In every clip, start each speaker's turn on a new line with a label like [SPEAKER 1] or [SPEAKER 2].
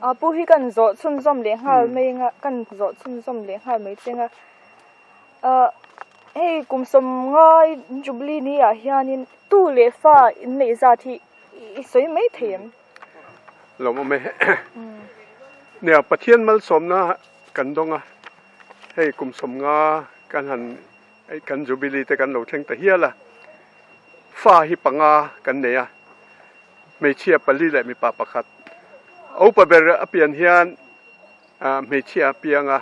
[SPEAKER 1] A pu hi kan zawh chhunzawm leh nghal mai nga kan zawh chhunzawm leh nghal mai che nga ah hei kum sawm ngai jubilee ni ah hianin tu leh fa in neih zat hi i sawi mai thei em? Lawm awm e nia Pathian malsawmna kan dawng a hei kum sawm nga kan han Hei kan Jubilee te kan lo thleng ta hial a,
[SPEAKER 2] fa hi panga kan nei a, hmeichhia pali leh mipa pakhat. Upa ber a pian hian hmeichhia a piang a,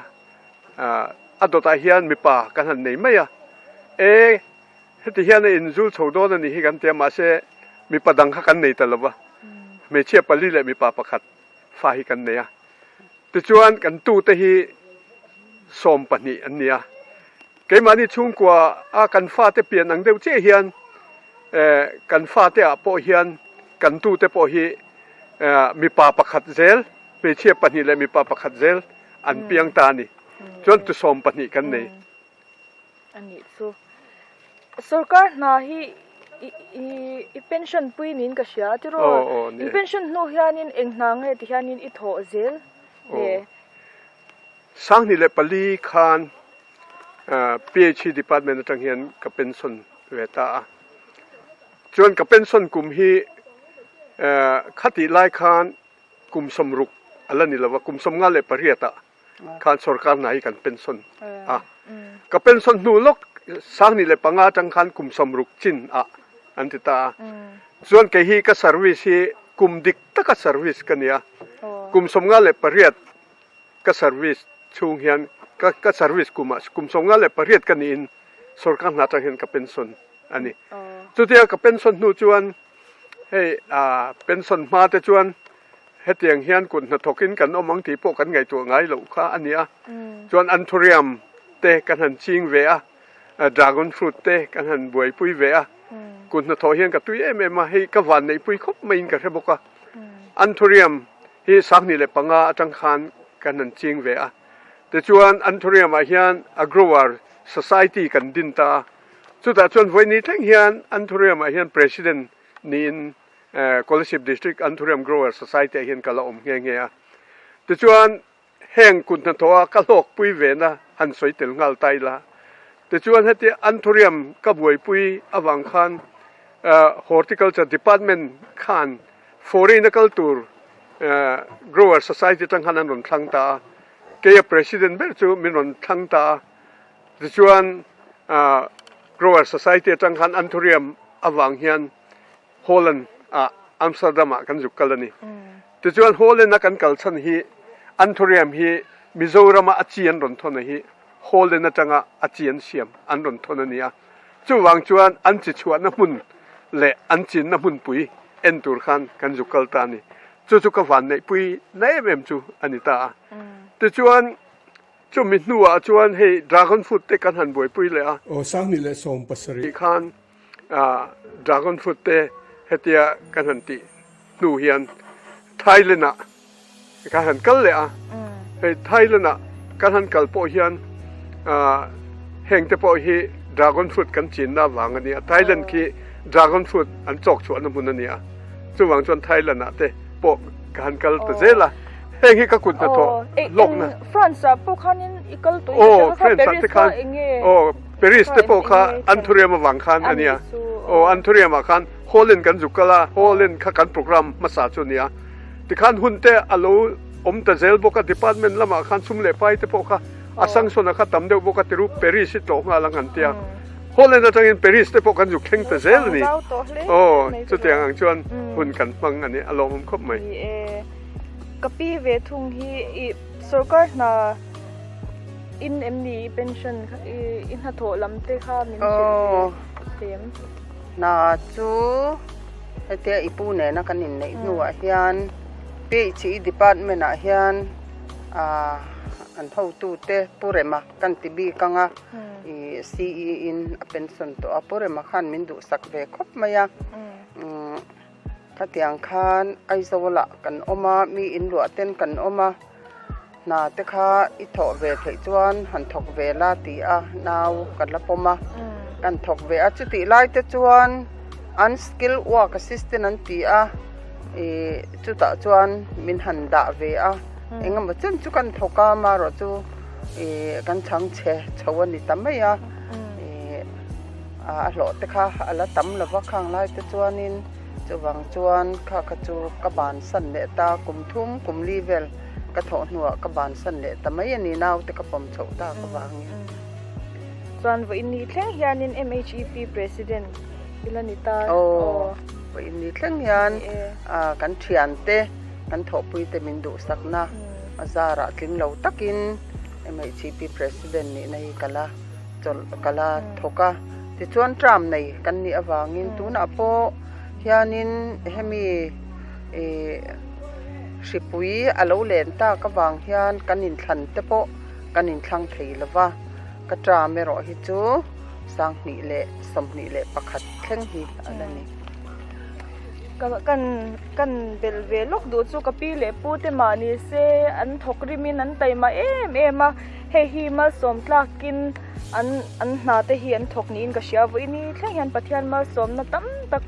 [SPEAKER 2] a dawtah hian mipa kan han nei mai a. E, heti hian a inzul chho dawn a nih hi kan tia, mahse mipa dang kha kan nei ta lo va, hmeichhia pali leh mipa pakhat. fa hi kan nei a, tichuan kan tute hi sawm pahnih an nia, keimahni chhungkua a kan fate pian ang deuh chiah hian eh kan fate
[SPEAKER 1] ah pawh hian kan tute pawh hi eh mipa pakhat zel hmeichhia pahnih leh mipa pakhat zel an piang ta a ni, chuan tusawm pahnih kan nei. a nih chu. Sorkar hna hi i pension pui niin ka hria a tiraw? I pension hnu hianin eng hna nge tihianin i thawh zel
[SPEAKER 2] hle? Sanghnih leh pali khan PHE department atang hian ka pension ve ta a, chuan ka pension kum hi khatihlai khan kum sawm ruk a la ni lo va, kum sawm nga leh pariat ah. khan sorkar hnai hi kan pension a ka pension hnu lawk sang ni leh panga tang khan kum sam ruk chin ah an ti ta a chuan kei hi ka service hi kum dik taka service ka nia kum sawmnga leh pariat ka service chhung hian ka ka service kum ah kum sawmnga leh pariat ka ni in sorkar hna tang hian ka pension a ni chutia ka pension hnu chuan hei a pension hma te chuan hetiang hian kut hnathawkin kan awm ang tih pawh kan ngaihtuah ngai loh kha a ni a. Chuan anthurium te kan han ching ve a, dragon fruit te kan han buaipui ve a, kut hnathawh hian ka tui em em a, hei ka vanneihpui khawp maiin ka hre bawk a. Anthurium hi sanghnih leh panga atang khan kan han ching ve a, tichuan anthurium ah hian a grower society kan din ta a, chutah chuan vawi ni thleng hian anthurium ah hian president niin, Kolasib District an Thurem Growers Society ah hian ka la awm nghe nghe a. Tichuan heng kut hna thawha ka hlawk pui ve na han sawi tel nghal ta ila. Tichuan heti an thuriam ka buaipui avang khan Horticulture Department khan fawrei na kal tur Growers Society atang khan an rawn thlang ta a. Kei a President ber chu min rawn thlang ta a. Tichuan Growers Society atang khan an thuriam avang hian Holland ah Amsterdam ah kan zuk kal a ni. Tichuan Holland a kan kal chhan hi an thuriam hi Mizoram ah a chi an rawn thawn a hi Holland atanga a chi an siam an rawn thawn a ni a. Chuvang chuan an chi chhuahna hmun leh an chinna hmunpui en tur khan kan zuk kal ta a ni. Chu chu ka vanneihpui na em em chu
[SPEAKER 3] a ni ta a. Tichuan chumi hnuah chuan hei Dragon Fruit te kan han buaipui leh a. Aw, Sang ni leh Sawm pasarih. Tih khan Ahh dragon fruit te hetia kan han tih hnu hian Thailand ah
[SPEAKER 2] kan han kal leh a, hei Thailand ah kan han kal pawh hian ahh heng te pawh hi dragon fruit kan chin na vang a ni a, Thailand khi dragon fruit an chawk chhuah na hmun a ni a, chuvang chuan
[SPEAKER 1] Thailand ah te pawh ka han kal ta zel a, heng hi ka kut hnathawh hlawk na. France ah pawh khan in i kal tawh hi ka hre a, France ah te khan enge. Paris te pawh kha an thuriam avang khan a nia. Aw, an thuriam ah khan Holland
[SPEAKER 2] kan zuk kal a, Holland kha kan programme hmasa chu a nia. Tikhan hun te a lo awm ta zel bawk a, department lam ah khan sum leh pai te pawh kha Asansol ah kha tam deuh bawk a, ti ru Paris hi tlawh nghal ang han ti a. Holland atang in Paris te pawh kan zuk thleng ta zel a ni. Aw, chutiang
[SPEAKER 1] ang chuan hun kan hmang a nih, a lawmawm khawp mai. Ka pi ve thung hi i Sorkar hna in em ni i pension i hna thawh lam te kha min hrilh ve em? Hna chu hetia i pu nena kan in neih hnu ah hian phd
[SPEAKER 4] department ah hian an ho tu te pu rema kan ti bik ang a i ce in a pension tawh a pu rema khan min duh sak ve khawp mai a. Khatiang khan Aizawl ah kan awm a, mi in luah ten kan awm a, hna te kha i thawh ve theih chuan han thawk ve la ti a nau ka la pawm a, kan thawk ve a, chutih lai te chuan unskilled work assistant an ti a, ih chutah chuan min han dah ve a, eng emaw chan chu kan thawk a, marawh chu ih kan chhang che chho a ni ta mai a, ih. A hlawhte kha a la tam lo va, khang lai te chuanin chuvang chuan kha kha chu ka ban san leh ta, kum thum kum li vel ka thawh hnuah ka ban san leh ta mai a ni, naute ka pawm chhoh ta ka vangin.
[SPEAKER 1] Chuan vawiin ni thleng hianin MHEP President i la ni ta. Aw,
[SPEAKER 4] vawiin ni thleng hian kan thiante, kan thawhpuite min duhsakna zarah tling lo takin MHEP President nihna hi ka la. chawlh a kal a, thawk a, tichuan tram nei kan nih avangin tunah pawh hianin hemi ihh hripui a lo len tak avang hian kan inthlan te pawh kan inthlang thei lo va, ka tram erawh hi chu sanghnih leh sawmhnih leh pakhat thleng hi a la ni. Ka kan
[SPEAKER 1] kan belh ve lawk duh chu ka pi leh pute mah ni se an thawk rimin an taima em em a. Hei hi malsawm tlakin an an hna te hi an thawk niin ka hria. Vawiin ni thleng hian Pathian malsawmna tam tak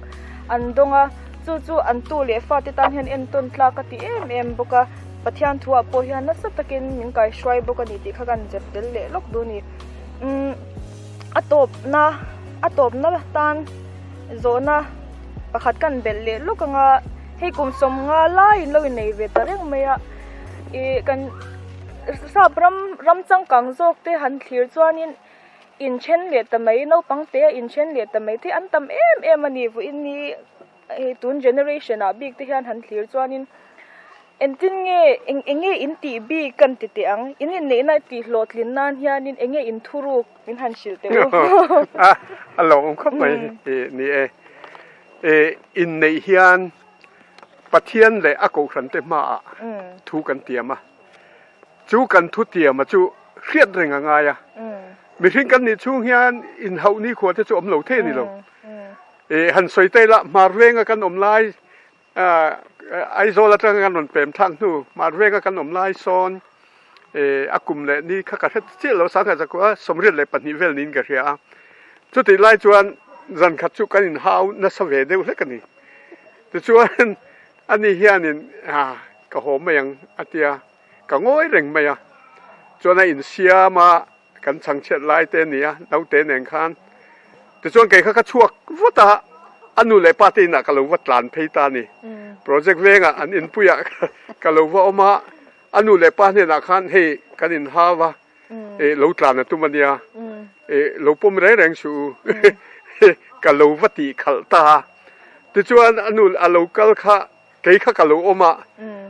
[SPEAKER 1] an dawng a, chu chu an tu leh fate tan hian entawn tlak a ti em em bawk a. Pathian thuah pawh hian nasa takin min kaihruai bawk a ni tih kha kan zep tel leh lawk duh ni. Umm a tawpna a tawpna tan zawhna pakhat kan belh leh lawk ang a, hei kum sawmnga laiin lo innei ve ta reng mai a. Ih kan sap ram ram changkang zawk te han thlir chuan in in then leh ta mai naupang te in then leh ta mai te an tam em em a ni vu in ni ih tun generation ah bik te hian han thlir chuan in eng tin nge eng eng nge in tih bik kan ti teh ang in in neih na ti hlawhtlin nan hian in eng nge in thuruk min han hrilh teh u a
[SPEAKER 2] a lawm khawp mai ih ni e ih in neih hian Pathian leh a Kohhrante hmaah thu kan tiam a, chu kan thu tiama chu hriat reng a ngai a. Mihring kan nih chhung hian inhauh nikhua te chu awm lo thei ni lo. I han sawi ta ila hmar venga kan awm lai, Aizawl atanga kan rawn pemthlak hnu hmar venga kan awm lai sawn. eh a kum leh ni kha ka hre chiah lo sang kha zakua a sawmriat leh pahnih vel niin ka hria a chuti lai chuan zan khat chu kan in hau nasa ve deuh hlek a ni tichuan ani hianin ah ka haw mai ang a tia ka ngawi reng mai a chuan a insiam a kan chhang chhiat lai te a ni a naute nen khan tichuan kei kha ka chhuak vat a a nu leh pa te inah ka lo va tlan phei ta a ni project vengah an inpuiah ka lo va awm a. A nu leh pa hnenah khan hei kan in hau a, eh lo tlan a tum a nia, eh lo pawm reng reng hru u ka lo va tih khalh ta a. Tichuan a nu a lo kal kha kei kha ka lo awm a,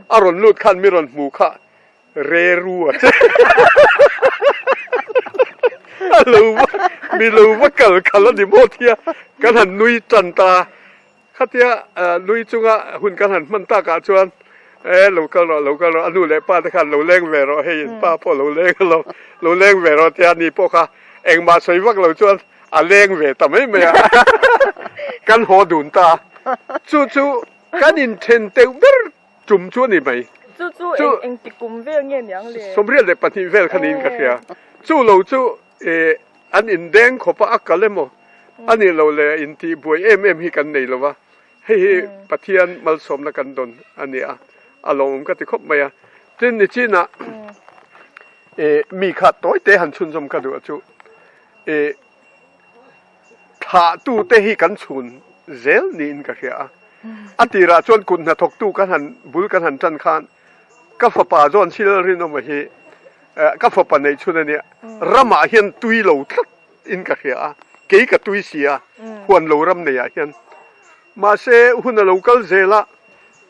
[SPEAKER 2] a rawn lut khan mi rawn hmuh kha reru a che a lo va mi lo va kal khalh a ni maw tia kan han nui tan ta a. Khatia lui chunga hun kan han hman takah chuan, E, lo kal rawh, lo kal rawh, a nu leh pa te khan lo leng ve rawh, hei in pa pawh lo leng a lawm, lo leng ve rawh tia ni pawh kha engmah sawi vak lo chuan a leng ve ta mai mai a, kan haw dun ta a, chu chu kan in then teuh ber tum chu a ni mai. Chu chu eng ti
[SPEAKER 1] kum vel nge niang le? Sawmriat leh pahnih vel kha
[SPEAKER 2] niin ka hria, chu lo chu Eh, an indeng khawp a, a kal emaw? A nih loh leh a intih buai em em hi kan nei lo va, hei hi Pathian malsawmna kan dawn a ni a, a lawmawm ka ti khawp mai a. Tin, nichinah eh, mi kha tawi te han chhunzawm ka duh chu eh, thlah tute hi kan chhun zel niin ka hria a. A tirah chuan kut hnathawk tu kan han bul kan han tan khan, Ka fapa chuan thil rinawma hi ka fapa neih chhun a nia. Ramah hian tui lo tlat in ka hria a, kei ka tui si a, huan lo ram nei ah hian. Mahse hun a lo kal zel a,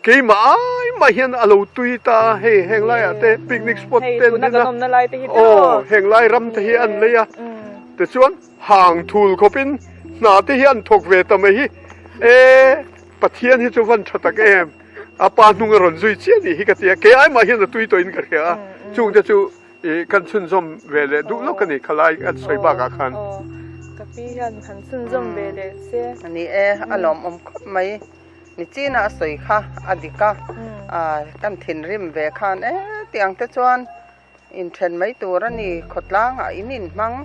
[SPEAKER 2] keimah ai mah hian a lo tui ta a, hei heng lai ah te picnic spot te an din a,
[SPEAKER 1] aw heng lai ram
[SPEAKER 2] te hi an lei a, tichuan. Hang thul khawp in hna te hi an thawk ve ta mai hi e Pathian hi chu van tha tak em a pa hnung a rawn zui chiah nih hi ka ti a kei ai mah hian a tui tawh in ka hria a chung te chu i kan chhunzawm ve leh duh lawk a ni kha lai a sawi bak ah khan ka pi
[SPEAKER 1] hian han chhunzawm ve leh se a ni e a
[SPEAKER 4] lawmawm khawp mai ni chin a a sawi kha a dik a a kan thinrim ve khan e tiang te chuan. inthen mai tur a ni, khawtlangah in inhmang,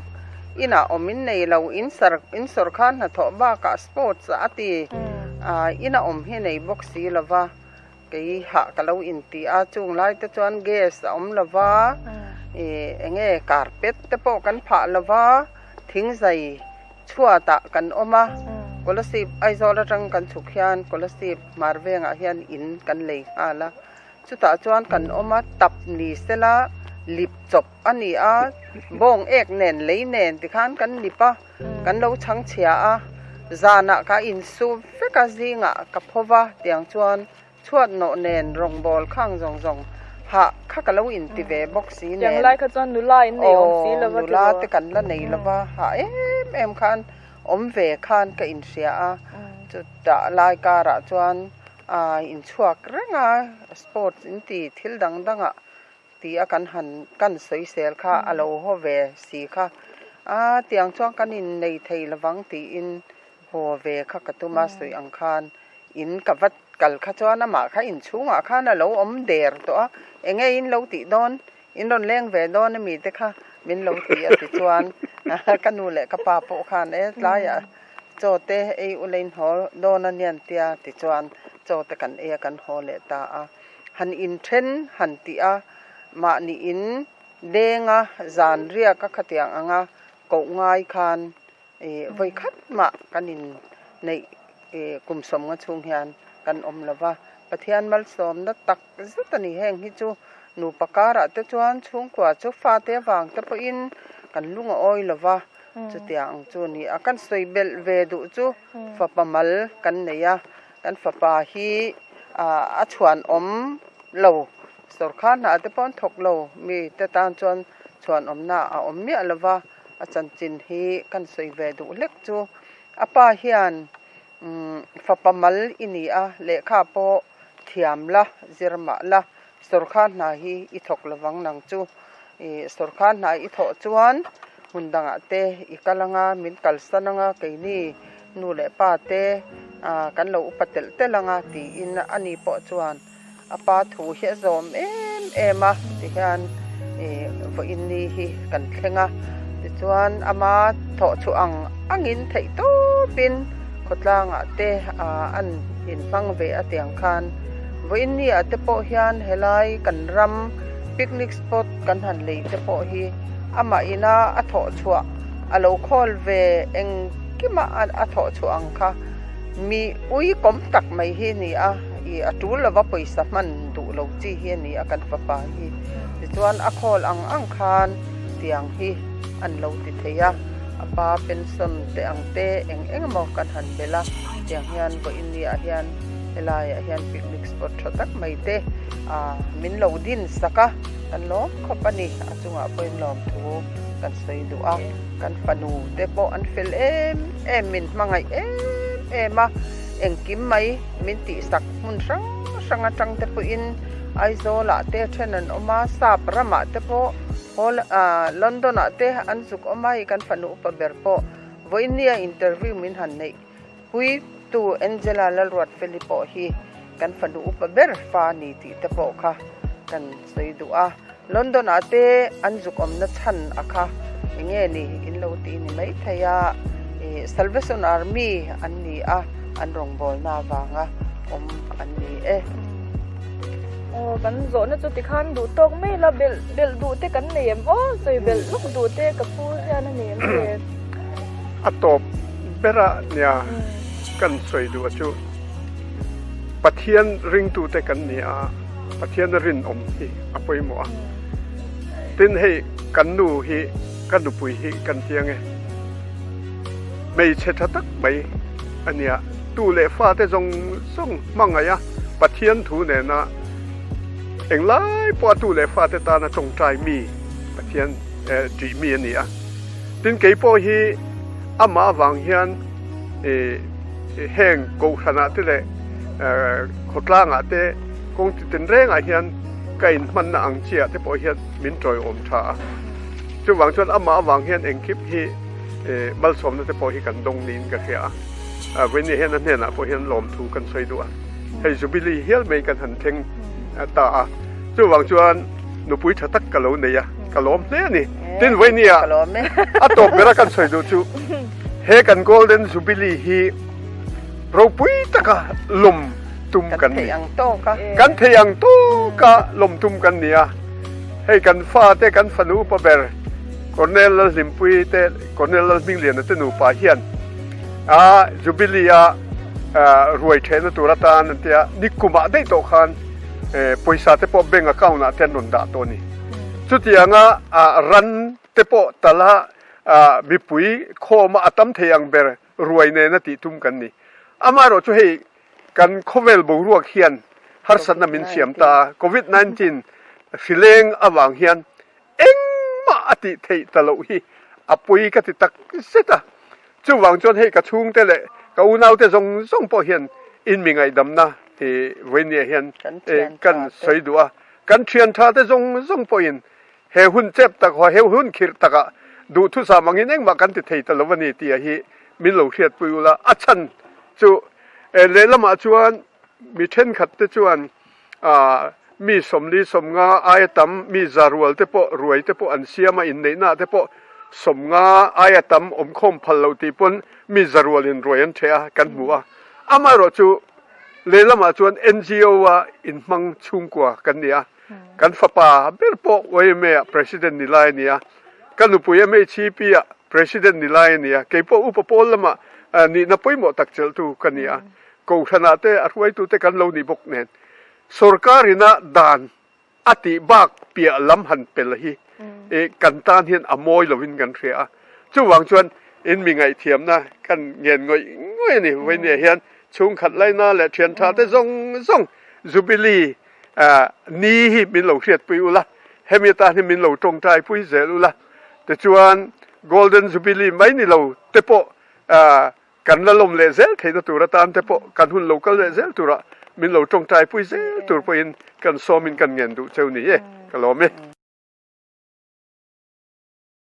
[SPEAKER 4] inah awm in nei lo, in sar in sawr khan hnathawh bakah sports a ti, aah ina awm hi nei bawk si lo va, kei hah ka lo inti a, chung lai te chuan gas a awm lo va, ih eng nge carpet te pawh kan phah lo va, thing zai chhuatah kan awm a, Kolasib Aizawl atang kan chhuk hian Kolasib hmar vengah hian in kan lei nghal a. Chutah chuan kan awm a, tap ni sela lip chawp a ni a, bawng ek nen lei nen tikhan kan lip a, kan lo chhang chhia a, zanah ka insum vek a zingah ka phaw va tiang chuan chhuat nawh nen rawngbâwl khang zawng zawng hah kha ka lo inti ve bawk si nen, aw nula
[SPEAKER 1] te kan la nei
[SPEAKER 4] lo va, hah em em khan awm ve khan ka inhria a, chutah lai karah chuan A inchhuak reng a, sports in ti thil dang dang ah ti a kan han kan soisel kha a lo haw ve si kha. A tiang chuan kan in nei thei lo vang tiin haw ve kha ka tum a sawi ang khan in ka va kal kha chuan amah kha inchhung ah khan a lo awm der tawh a, enge in lo tih dawn? In rawn leng ve dawn a mite kha min lo ti a ti chuan ka nu leh ka pa pawh khan e tlaiah Chawte ei ula inhaw dawn anian tia ti chuan Chawte kan eia kan haw leh ta a, han in then han tih a, mah niin denga zan riak a khatiang anga koh ngai khan i vawi khat mah kan in neih kum sawmnga chhung hian kan awm lova Pathian malsawmna tak zet a ni heng hi chu nupa karah te chuan chhungkua chu fate avang te pawhin kan lung a awi lo va chutiang ang chu a ni a kan sawi belh ve duh chu fapa mal kan nei a kan fapa hi a chhuan awm lo sawrkha hnah te pawh an thawk lo mi te tan chuan chhuan awmna a awm miah lo va a chanchin hi kan sawi ve duh hlek chu apa hian fapa mal i ni a lehkha pawh-- thiam la, zir mah la, sorkar hna hi i thawk lo vang nang chu. I sorkar hna i thawh chuan hun dangah te i kal anga, min kalsan anga, keini nu leh pa te kan lo upa telh telh anga tiin a ni pawh chuan a pa thu hi a zawm em em a ti hian i vawiin ni hi kan thleng a. Tichuan ama thawhchhuah ang angin theih tawpin. Khawtlangah te ah an in hmang ve a tiang khan Vawinia te pawh hian helai kan ram picnic spot kan han lei te pawh hi amah ina a thawh chhuah a lo khawl ve engkima a thawh chhuah ang kha mi ui kawm tak mai hi ni a i a tul lova pawisa hman duh lo chi hi a ni a kan fapa hi tichuan a khawl ang ang khan tiang hi an lo ti thei a. A pa pension te ang te eng eng emaw kan han melh a, tiang hian vawi india ah hian helai ah hian picnic spot tha tak mai te ah min lo din sak a, kan lawm khawp a ni, a chungah pawhin lawmthu kan sawi duh a, kan fanu te pawh an fel em em min hmangaih em em a, engkim mai min tihsak hmun hrang hrang atang te pawhin. Aizawlah te then an awm a, Sap ramah te pawh, Hol, aah, London-ah te an zuk awm a, hei kan fanu upa ber pawh vawinia interview min han neih. Puitu Angela Lalruatfeli pawh hi kan fanu upa ber fa a ni tih te pawh kha kan sawi duh a. London ah te an zuk awmna chhan a kha eng nge ni in lo ti ni mai thei a, i Salvation Army an ni a, an rawngbawlna avanga awm an ni e. Aw
[SPEAKER 1] kan zawhna chu ti khan duh tawk mai ila, belh belh duh te kan nei em aw, sawi belh lawk duh te ka pu hian a ni em le. A
[SPEAKER 2] tawp bera nia kan sawi duh chu Pathian ringtute kan ni a. Pathiana rinawm hi a pawimawh a, tin hei kan nu hi ka nupui hi kan ti ange. Hmeichhe tha tak mai a nia, tu leh fate zawng zawng hmangaih a Pathian thu nena eng lai pawh a tu leh fate tan a tawngtai mi Pathian tih mi a ni a, tin kei pawh hi amah vang hian i. I heng Kohhranah te leh Khawtlangah te kawng ti ten rengah hian ka inhmanna ang chiah te pawh hian min tawihawm tha a. Chuvang chuan amah avang hian engkhip hi malsawmna te pawh hi kan dawng niin ka hria a. Vawinia hian a hnenah pawh hian lawmthu kan sawi duh a, hei Jubilee hial mai kan han thleng ta a. Chuvang chuan nupui tha tak ka lo nei a, ka lawm hle a ni. Tin Vawinia a tawp ber a kan sawi duh chu. He kan Golden Jubilee hi ropui taka lawm tum kan ni.
[SPEAKER 4] Kan theih ang tawka lawm tum kan ni a. Hei kan fa te kan fanu pa ber Colonel Lalhlimpui te Colonel Lalhmingliana te nupa hian a Jubilee a ruai thehna tur atan an tia ni kumah daih tawh khan pawisa te pawh bank account ah te an rawn dah tawh a ni. Chutianga
[SPEAKER 2] ran te pawh tala a mipui khawma a tam thei ang ber ruai nena tih tum kan ni. Amaherawh chu hei kan khawvel boruak hian harsatna min siam ta a, Covid nineteen hrileng avang hian engmah a tih theih ta loh hi a pawi ka ti tak zet a, chuvang chuan hei ka chhungte leh ka unaute zawng zawng pawh hian inmi ngaihdamna vawinia hian kan sawi duh a, kan thianthate zawng zawng pawhin He hun chep tak haw, he hun khirh takah duhthusam angin engmah kan ti thei ta lo a ni tih a hi min lo hriat pui ula, a chhan chu lehlamah chuan mi thenkhat te chuan mi sawmli sawmnga aia tam, mi zarual te pawh ruai te pawh an siam a, inneihna te pawh sawmnga aia tam awmkhawm phal lo tih pawn mi zarual in ruai an the a kan hmu a, amaherawhchu lehlamah chuan NGO-a inhmang chhungkua kan ni a. Kan fapa ber pawh YMA ah President ni lai a nia, ka nupui MHEP ah President ni lai a nia, kei pawh upa pawl lama nihna pawimawh tak chelhtu ka ni a, Kohhranah te a hruaitute kan lo nih bawk nen sorkar in a dan a tih bak piah lam han pel hi kan tan hian a mawi lovin kan hria a, chuvang chuan in mi ngaihthiamna kan ngen ngawih ngawih a ni, vawinia hian chhungkhat laina leh thianthate zawng zawng Jubilee. ah ni hi min lo hriatpui ula, hemi atan hi min lo tawngtaipui zel ula, tichuan Golden Jubilee mai ni lo te pawh ah kan la lawm leh zel theihna tur atan te pawh kan hun lo kal leh zel tur ah min lo tawngtaipui zel tur pawhin kan sawmin kan ngen duh cheu ni e, ka lawm e.